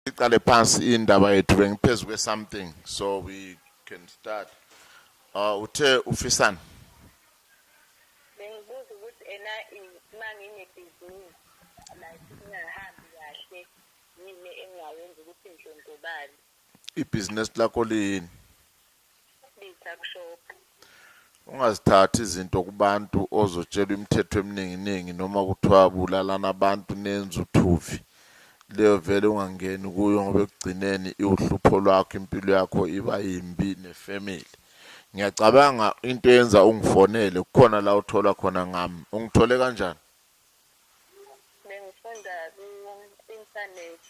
siqale phansi indaba yethu bengiphezu kwe something so we can start uh uthe ufisani bengibuza ukuthi ena mangine business like ingahambi kahle yini engayenza ukuthi ngidlondlobale ibhizinesi lakho lini Ungazithathi izinto kubantu ozotshelwa imithetho emininginingi noma kuthiwa bulalana abantu nenze uthuvi. Leyo vele ungangeni kuyo ngoba ekugcineni iwuhlupho lwakho impilo yakho iba yimbi nefamily. Ngiyacabanga into yenza ungifonele kukhona la uthola khona ngami. Ungithole kanjani? Bengifunda ku-internet.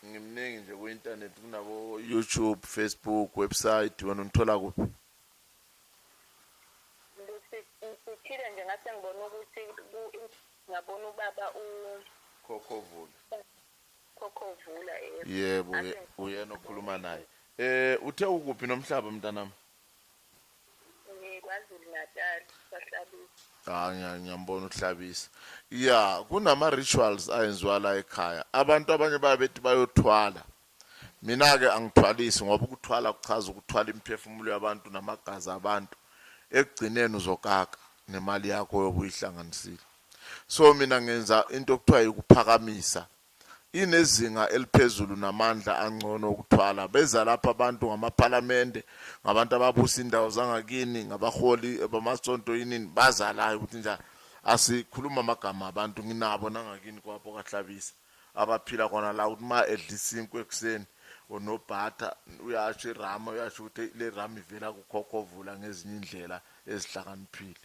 ngimningi nje ku internet kunabo YouTube, Facebook, website wena ungithola kuphi? Ngithile nje ngase ngibona ukuthi ku ngabona ubaba u Khokhovula. Khokhovula yebo. Yebo uyena okhuluma naye. Eh uthe ukuphi nomhlaba mntanami? KwaZulu Natal kwahlabisa. Ah ngiya- ngiyambona uhlabisa. Yeah, kunama rituals ayenziwa la ekhaya. Abantu abanye babethi bayothwala. Mina ke angithwalisi ngoba ukuthwala kuchaza ukuthwala imiphefumulo yabantu namagazi abantu. Ekugcineni uzokaka nemali yakho yobuyihlanganisile. So mina ngenza into okuthiwa ikuphakamisa inezinga eliphezulu namandla angcono okuthwala. Beza lapha abantu ngamaphalamende, ngabantu ababusa indawo zangakini, ngabaholi bamasonto yinini, baza la ukuthi njani. Asikhuluma amagama abantu nginabo nangakini kwapho kahlabisa abaphila khona la ukuthi uma edla isinkwa ekuseni onobhatha uyasho irama uyasho ukuthi le rama ivela kukhokhovula ngezinye indlela ezihlakaniphile